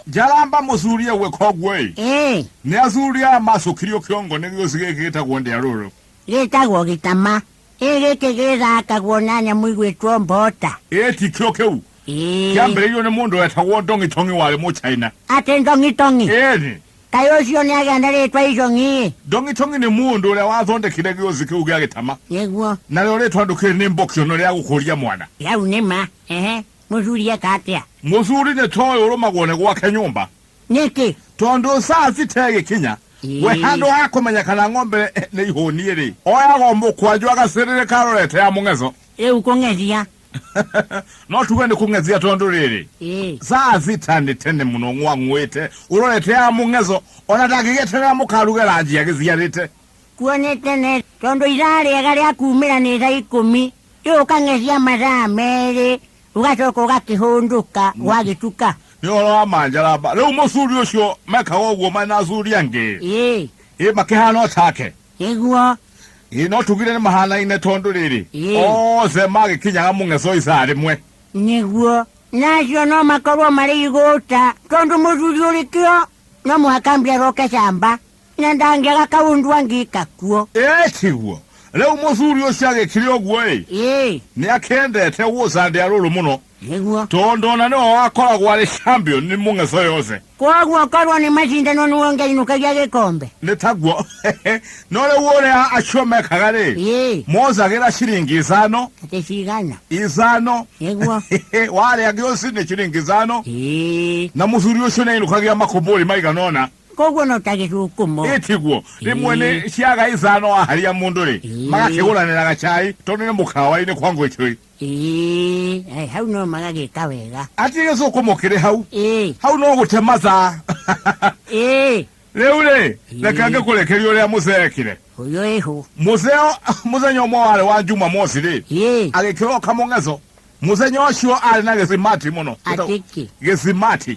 Njaramba mũcurie gwe koguo-ĩ, Ĩĩ, nĩacurie amacũkirio kĩongo nĩ gĩũci gĩkĩ gĩtagwo ndĩarũrũ. gĩtagwo gĩtama. Ĩĩ gĩkĩ gĩthakagwo na nyamũ igwĩtwo mbota. Ĩĩ ti kĩo kĩu Ĩĩ. kĩambĩrĩirio nĩ mũndũ wetagwo ndong'i tong'i warĩ mũchaina Atĩ ndong'itong'i. ĩni Kaĩ ũcio nĩ agĩa na rĩtwa icong'i-ĩ. ndong'i tong'i nĩ mũndũ ũrĩa wathondekire gĩũci kĩu gĩa gĩtama Nĩguo. narĩo rĩtwa ndũkĩrĩ nĩ mbokiono rĩa gũkũria mwana Yau nĩ ma. Ehe. mũthuri eka atĩa mũthuri nĩ toĩ ũrũmagwo nĩ gwake nyũmba nĩkĩ tondũ saa citegĩkinya Ĩĩ. we handũ ha kũmenya kana ng'ombe eh, nĩ ihũnie rĩ oyagwo mũkwanjũ agacĩrĩrĩka arorete ya mũng'eco rĩu kũng'ethia no tuge nĩ kũng'ethia tondũ rĩrĩ Ĩĩ. saa sita nĩ tene mũno ng'wang'wĩte ũrorete ya mũng'eco ona ndangĩgeterera mũkaruge ranji agĩciarĩte kuonete ne tondũ iraa rĩega rĩa kumĩra nĩ thaa ikũmi Rĩu ũkang'ethia mathaa merĩ ũgacoka ũgakĩhũndũka ũgagĩtuka nĩ ũhoro wa manjaramba rĩu mũcuri ũcio mekaga ũguo marĩ na acuri angĩ ĩĩ ĩ makĩhana o take nĩguo ĩ no tugire nĩ mahanaine tondũ rĩrĩ Ĩĩ. othe magĩkinyaga mũng'eco isaa rĩmwe nĩguo na acio no makorwo marĩ igũta tondũ mũthuri ũrĩkĩo no mũhaka mbia aroke camba Na ndangĩaga kaũndũ angĩka kuo. Ĩĩ tiguo. Rĩu mũthuri ũcio agĩkire ũguo-ĩ, Ĩĩ, nĩakendete gũcandĩa rũrũ mũno, nĩguo. tondũ ona nĩwe wakoragwo arĩ champion nĩ mũng'etho yothe. Kwoguo korwo nĩ macindano nĩwe ũngĩainũkagia gĩkombe. Nĩ taguo. No rĩu ũrĩa acio mekaga-rĩ, Ĩĩ, moozagĩra ciringi ithano, atĩ cigana. ithano. Nĩguo. Warĩa gĩũci nĩ ciringi ithano, Ĩĩ. na mũthuri ũcio nĩainũkagia makũmbũri maigana ũna. koguo no ta gĩgukumo ĩtiguo rĩmwe nĩ ciaga ithano waharia mũndũ rĩ Ĩĩ. magakĩgũranĩraga cai tondũ nĩ mũkawa-inĩ kwa ngwĩcũĩ Ĩĩ, ai, hau no magagĩka wega atĩ gĩcũkũmo kĩrĩ hau Ĩĩ, hau no gũte mathaa ĩĩ, rĩu rĩ reka Ĩĩ. ngĩkũrekeria ũrĩa mũcee ekire ũyũ ĩhũ mũceo mũthenya ũmwe warĩ wa jumamosi rĩ Ĩĩ, agĩkĩroka mũng'eco mũthenya ũcio arĩ na gĩsimati mũno atikĩ gĩsimati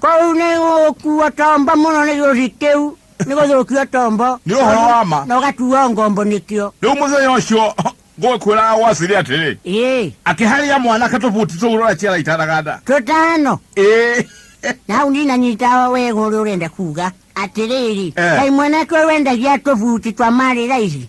Kau nĩ gũkua tombo mũno nĩ gĩũthi kĩu nĩ gũthũkia tombo Nĩ ũhoro wa ma. na ũgatua ngombo nĩkĩo rĩu mũthenya ũcio ngũkwĩraga gwa siri atĩrĩ ĩĩ akĩharia mwanake tũbuti tũu rora ciara itanaga nda tũtano ĩĩ na hau ndinanyita wega ũrĩa ũrenda kuga atĩrĩrĩ Eh. kai mwanake ũyũ wendagia tũbuti twa marĩ raithi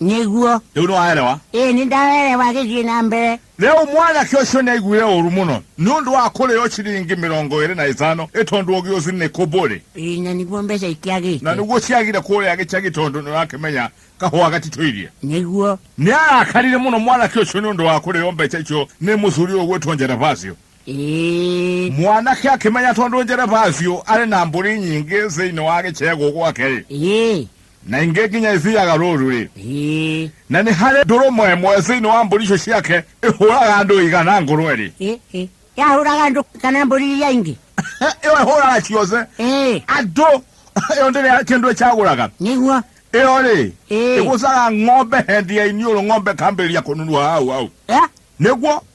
nĩguo rĩu nĩ waerewa ĩĩ nĩ ndawerewa gĩthiĩ na mbere rĩu mwanake ũcio nĩ aiguire ũru mũno nĩ ũndũ wa kũrĩo ciringi mĩrongo ĩrĩ na ĩtano ĩ tondũ ũngĩ ũcio nĩ kũmbũrĩ Ĩĩ, na nĩguo mbeca na ikĩagĩte nĩguo ciagire kũrĩa gĩcagi tondũ nĩ ũrakĩmenya kahũa gatitũirie nĩguo nĩ arakarire mũno mwanake ũcio nĩ ũndũ wa kũrĩo mbeca icio nĩ mũthuri ũgwĩtwo njerevacio Ĩĩ. mwanake akĩmenya tondũ njerebacio arĩ na mbũri nyingĩ thĩinĩ wa gĩcegũ gwake-rĩ Ĩĩ. na ingĩ nginya ithiaga rũũru-rĩ Ĩĩ. na nĩ harĩ ndũrũme ĩmwe thĩinĩ wa mbũri icio ciake ĩhũraga andũ igana ngũrwe-rĩ Ĩĩ. Ĩĩ. yahũraga andũ kana mbũri iria ingĩ ĩyo ĩhũraga ciothe Ĩĩ. andũ ĩyo ndĩrĩ kĩndũ ĩcagũraga nĩguo ĩyo-rĩ Ĩĩ. ĩgũcaga ng'ombe hendi ya iniũrũ ng'ombe kambĩrĩria kũnunuha hau hau Eh? nĩguo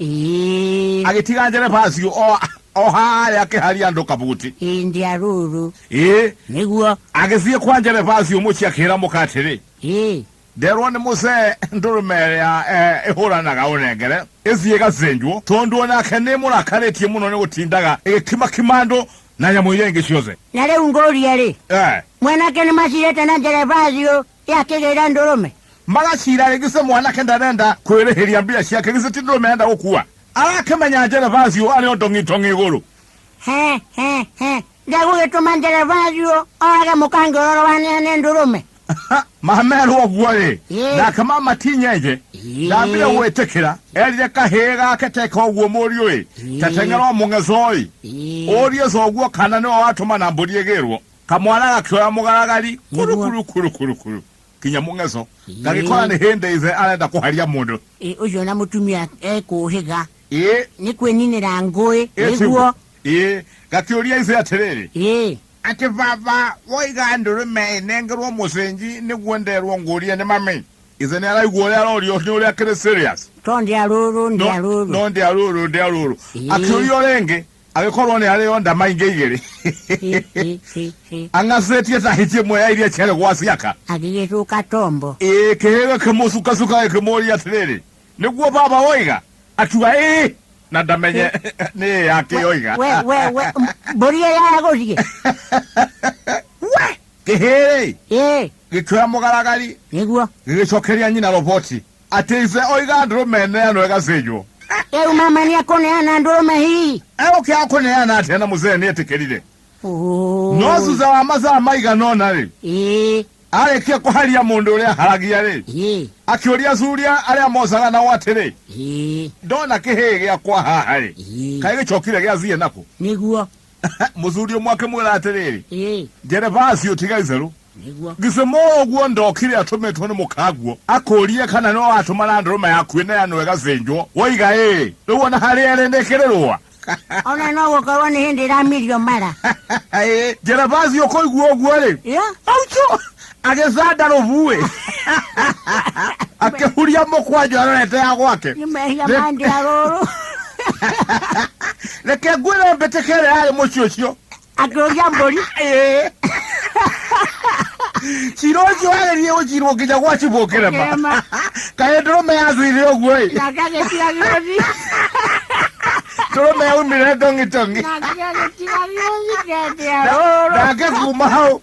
Ii, agĩtiga njerebacio o- o harĩa akĩharia andũ kabuti ĩndĩ arũrũ ĩ nĩguo agĩthiĩ kwa njerebacio mũciĩ akĩra mũka atĩrĩ ĩ nderwo nĩ mũcee ndũrũme ĩrĩa eh, ĩhũranaga ũnengere ĩthiĩ ĩgacenjwo tondũ onake nĩ mũrakarĩtie mũno nĩ gũtindaga ĩgĩkimakima andũ na nyamũ iria ingĩ ciothe na rĩu ngũria-rĩ Eh, mwanake nĩ macirĩte na njerebacio Yakĩgĩga ndũrũme. magacira rĩngĩ se mwanake ndarenda kwĩrĩhĩria mbia ciake gĩcĩ ti ndũrũme enda gũkua arakĩmenya njerevaci ũ arĩ o ndong'itong'i igũrũ He, he, he. Ndegũgĩtũma nderevathi ũ orage mũkange ũroro wanehe nĩ ndũrũme. mamerwo ũguo rĩ Ĩĩ. nake mama tinyenje Ĩĩ. ndambire gwĩtĩkĩra erire kahĩĩ gake teka ũguo mũriũ ĩ tateng'erwo mũng'ecoĩ ũrie coguo kana nĩwe watũma na mbũri ĩgĩrwo kamwana gakioya mugaragari kuru Nĩguo. kuru kuru kuru kuru kinya mungeco Ĩĩ. gagikora ni hindi ithe arenda kuharia mundu Ĩ, ũcio na mũtumia ekũhĩga ii nĩ kwĩninĩra ngũĩ nĩguo ii gakiuria ithe atiriri ĩ ati baba woiga ndurume inengerwo mucenji niguo nderwo ngurie ni mami ithe ni araigua uria arorio ni uria akiri serious to ndĩa rũrũ ndĩa rũrũ no ndi aruru ndi aruru Ĩĩ. akiuria ringi agĩkorwo nĩ arĩ o ndama ingĩ igĩrĩ ang'acĩtie ta hiti ĩmwe ya iria ciarĩ gwa ciaka agĩgĩcũka tombo ĩĩ kĩhĩga kĩmũcukacuka gĩkĩmũũria atĩrĩrĩ nĩguo baba woiga akiuga ĩĩ na ndamenye nĩ ĩĩ yake oiga we we we mbũri ĩyo yagũthiĩ we kĩhĩrĩ ĩĩ gĩkĩoya mũgaragari nĩguo gĩgĩcokeria nyina roboti Atĩ ithe oiga ndũrũme neanwo ĩgathĩnjwo. Rĩu mama nĩ ekũneana ndũrũme hihi. Egũkĩaga kũneana atĩa na mũzee nĩ etĩkĩrire? Ũũ. No thutha wa mathaa maigana ũna-rĩ, Ĩĩ. arĩkia kũharia mũndũ ũrĩa aharagia-rĩ, Ĩĩ. akĩũria thuria arĩa mocaga nao atĩrĩ, Ĩĩ. ndona kĩhĩĩ gĩakwa haha-rĩ, Ĩĩ. kaĩ gĩcokire gĩathiĩ nakũ? Nĩguo. mũthuri ũmwe akĩmwĩra atĩrĩrĩ Ĩĩ, njerevasi ũtiga itherũ nĩguo. gĩcimo ũguo ndokire atũmĩtwo nĩ mũkanguo akũrie kana nĩwe watũma na ndũrũme yaku ĩne yanũ ĩgacĩnjwo woiga ĩĩ rĩu ona harĩa ĩrĩ nĩkĩrĩ rũa Ona no gũkorwo nĩ hĩndĩ ĩramirio mara. Ĩĩ, njerevasi ũkũigua ũguo-rĩ Ĩyo, auco agĩcanda rũbuĩ akĩhuria mũkwanjũ arorete ya gwake nĩ mehia Rĩ- mandia rũrũ reke ngwĩre mbĩtĩka ĩrĩa yarĩ mũciĩ ũcio akĩrũria mbũri Ĩĩ. cira ũcio wagĩrire gũcirwo nginya gwacibwo kĩrema Kĩrema. kaĩ ndũrũme yathwire ũguo ĩ nake agĩtiga gĩothi ndũrũme yaumire ndong'itong'i nake agĩtiga gĩothi ngendia rũrũ nake kuma hau